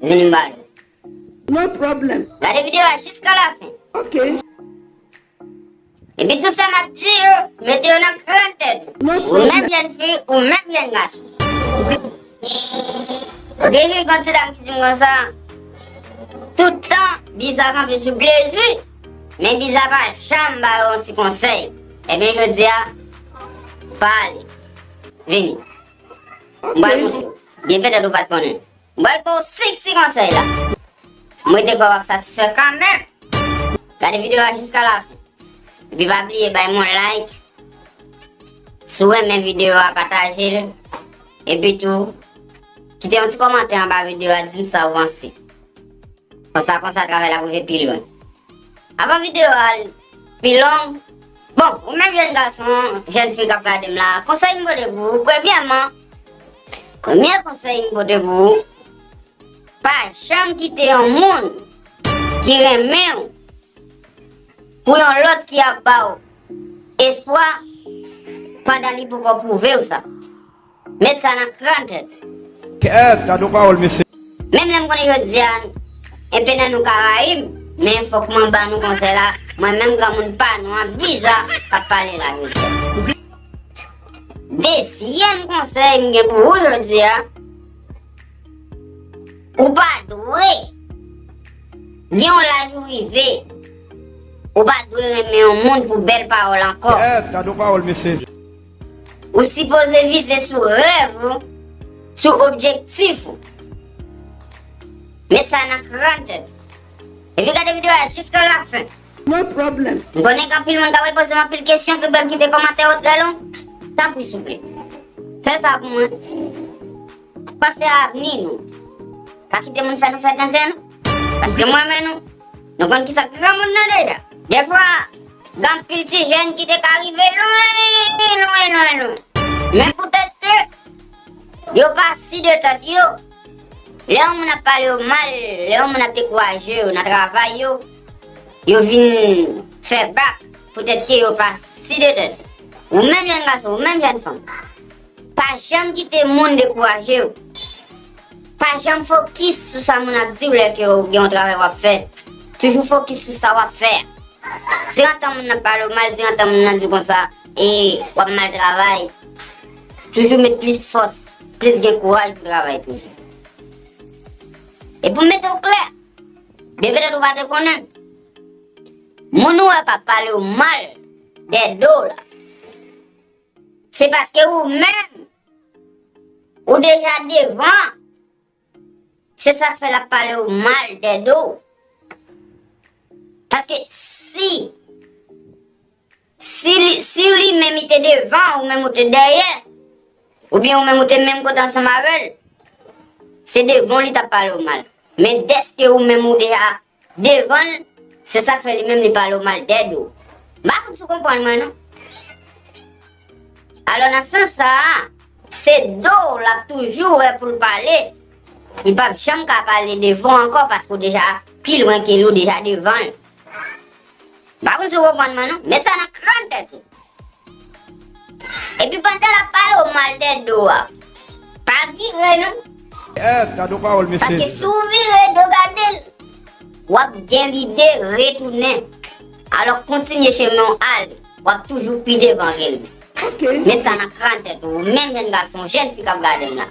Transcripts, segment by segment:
Vini ba nou. No problem. Gade video a jiska la fin. Ok. Epi tout sa map di yo, mete yo nan kran tèt ou. No problem. Ou menm jèn fi, ou menm jèn gason. Ok jwi kon ti dam ki dim konsa. Tout tan biza kanpe sou Blaze wi. Men biza pa janm ba yo yon ti konsèy. Ebyen jodi a pale. Vini. Mwen ba nou. Byen petèt ou pat konnen. Bal pou 5 ti konsèy la. M rete kwè wap satisfè kanmenm. Gade video a jiska la fin. Epi pa bliye bay m yon like. Si w renmen video a pataje l. Epi tou kite yon ti komantè anba video a di m sa ou panse. Konsa konsa travay la pou rive pi lwen. Avan video a. Pi long, Bon, ou menm jèn gason, jèn fi k ap gade m la, konsèy m pote pou ou, premyèman, premye konsèy m pote pou ou, pa janm kite yon moun ki renmen ou pou yon lòt ki ap ba ou espwa pandan li poko pwouve ou sa. Met sa nan kran tèt. Kèèt gadon pawòl mesye. Menm lè m konnen jodi a enpe nan nou ka rayi m men fòk mwen ban nou konsèy la mwen menm granmoun pa nou an biza k ap pale la jodi a. Dezyèm konsèy m gen pou ou jodi a ou pa dwe gen yon laj ou rive ou pa dwe renmen yon moun pou bèl pawòl ankò. Kèèt gadon pawòl mesye. Ou sipoze vize sou rèv ou, sou objektif ou. Met sa nan krant ou. Epi gade video a jiska la fen. No problem. M konnen gen anpil moun kap repoze m anpil kesyon ki bèl kite komantè yo trè long. Tanpri souple. Fè sa pou mwen. Panse a avni nou. Pa kite moun fè nou fè tenten nou. Paske mwen men nou. Nou konn kisa granmoun nan deja. De fwa, gen anpil ti jèn ki te ka rive lwen, lwen, lwen, lwen. Men poutèt ke yo pa si de tèt yo, lè yon moun ap pale yo mal, lè yon moun ap dekouraje yo nan travay yo, yo vin fè bak poutèt ke yo pa si de tèt yo. Ou menm jèn gason, ou menm jèn fanm. Pa janm kite moun dekouraje w. Pa janm fokis sou sa moun ap di w lè ke w gen yon travay w ap fè. Toujou fokis sou sa w ap fè a. Di yon tan moun nan pale w mal, di yon tan moun nan di w konsa, e w ap mal travay. Toujou met plis fòs, plis gen kouraj pou travay toujou. E pou m mete w klè, byen petèt ou pa te konnen, moun ou wè k ap pale w mal dèyè do w la, Se paske ou menm ou deja devan se sak fè lap pale ou mal dè do ou. Paske si si ou li menm li te devan ou menm ou te dèyè ou byen ou menm ou te menm kote ansanm avèl se devan li tap pale ou mal. Men deske ou menm ou deja Devan l, se sa k fè li menm li pale w mal dèd ou. M pa fout si w konprann mwen non. Alò nan sans sa a, se do w l ap toujou wè pou l pale, li p ap janm ka pale devan w ankò paske w deja pi lwen ke li, w deja devan l. M pa konn si w konprann mwen non. Met sa nan kran tèt ou. Epi pandan l ap pale w mal de do a, pa vire non. Èèt! Gad yon pawòl mesye! Paske si w vire do gade l, w ap gen lide retounen. Alò kontinye chemen w ale. W ap toujou pi devan ke li. Met sa nan kran tèt ou, ou menm jenn gason, jenn fi k ap gade m la.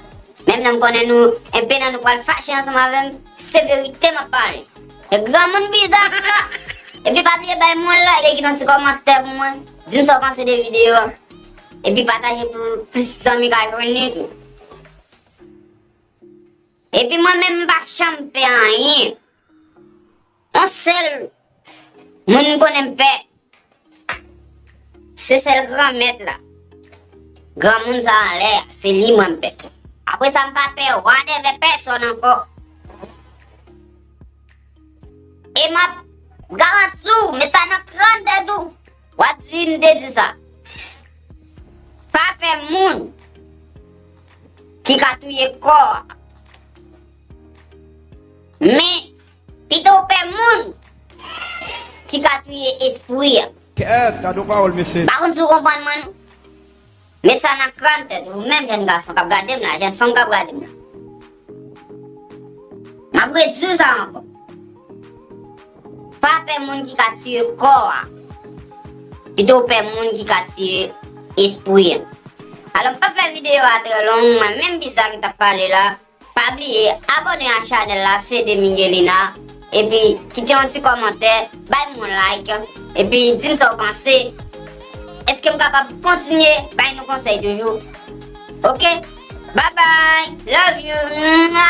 Menm lè m konnen nou, enpe nan nou pral fache ansanm avè m, se verite m ap pale. Granmoun biza anka! Epi pa bliye bay moun like e kite yon ti kòmantè pou mwen, dim sa w panse de videyo a. Epi pataje pou plis zanmi ka jwenn li tou. Epi mwen menm m pa janm pè anyen. Yon sèl moun m konnen m pè. Se sèl gran mèt la. Gran moun sa anlè a, se li mwen pè. Apre sa m pa pè wa dèvè pèsòn ankò. E m ap garanti w, met sa nan kran tèt ou, w ap di m te di sa. Pa pè moun ki ka touye kò a. Men. Pito w pè moun ki ka touye espwi an. Kèèt, gadon pawòl mesye. M pa konn si w konprann mwen non. Met sa nan kràn tèt ou, ou menm jèn gason k ap gade m la, jèn fanm k ap gade m la. M ap redi w sa ankò. Pa pè moun ki ka tiye kò a. Pito w pè moun ki ka tiye espwi an. Alò m p ap fè videyo a trè long, mwen menm Bizarre ki t ap pale la. Pa bliye abone ak chanel la Fede Miguelina epi kite yon ti komantè bay m yon like epi dim sa w panse eskem kapab kontinye bay nou konsèy toujou ok bye bye love you mwa.